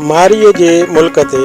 مارئيء جي ملڪ تي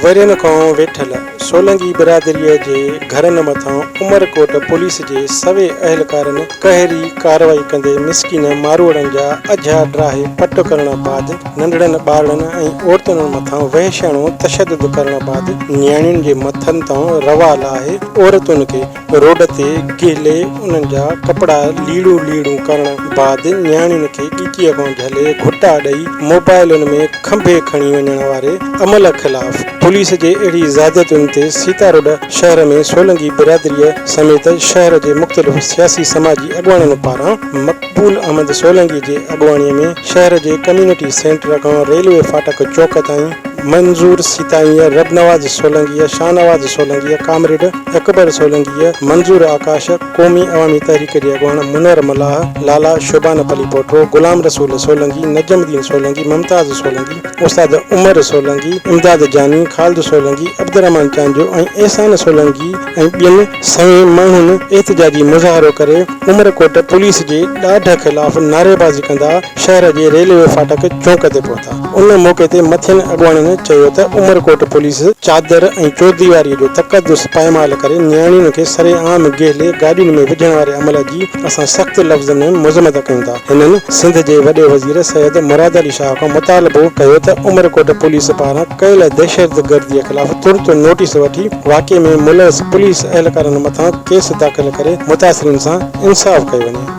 ورهين کان ويٺل سولنگي برادريء جي گهرن مٿان عمرڪوٽ پوليس جي سوين اهلڪارن قهري ڪارروائي ڪندي مسڪين ماروئڙن جا اجها ڊاهي پٽ ڪرڻ بعد ننڍڙن ٻارڙن ۽ عورتن مٿان وحشياڻو تشدد ڪرڻ بعد نياڻين جي مٿن تان روا لاهي عورتن کي روڊ تي ڪهلي انهن جا ڪپڙا ليڙون ليڙون ڪرڻ بعد نياڻين کي ڳچيء مان جهلي گهٽا ڏئي موبائلن ۾ کنڀي کڻي وڃڻ واري عمل خلاف پوليس جي اهڙي زيادتين تي سيتارود شهر ۾ سولنگي برادريء سميت شهر جي مختلف سياسي سماجي اڳواڻن پاران مقبول احمد سولنگي جي اڳواڻي ۾ شهر جي ڪميونٽي سينٽر کان ريلوي فاٽڪ چوڪ تائين منظور سيتائيء، ربنواز سولنگيء، شاهنواز سولنگيء، ڪامريڊ. اڪبر سولنگيء، منظور آڪاش، قومي عوامي تحريڪ جي اڳواڻ منور ملاح، لالا شوبانه پليپوٽو، غلام رسول سولنگي، نجم الدين سولنگي، ممتاز سولنگي، استاد عمر سولنگي، امداد جاني، خالد سولنگي، عبدالرحمان چانڊيو ۽ احسان سولنگي ۽ ٻين سوين ماڻهن احتجاجي مظاهرو ڪري عمرڪوٽ پوليس جي ڏاڍ خلاف نعريبازي ڪندا شهر جي ريلوي ڦاٽڪ چونڪ تي پهتا. ان موقعي تي مٿين اڳواڻن چيو ته عمرڪوٽ پوليس چادر ۽ چورديواريء جو تقدس پائمال ڪري نياڻين کي سري عام گهلي گاڏين ۾ وجهڻ واري عمل جي اسان سخت لفظن ۾ مذمت ڪيون ٿا. هنن سنڌ جي وڏي وزير سيد مراد علي شاهه کان مطالبو ڪيو ته عمرڪوٽ پوليس پاران ڪيل دهشتگرديء خلاف ترت نوٽيس وٺي واقعي ۾ ملوث پوليس اهلڪارن مٿان ڪيس داخل ڪري متاثرين سان انصاف ڪيو وڃي.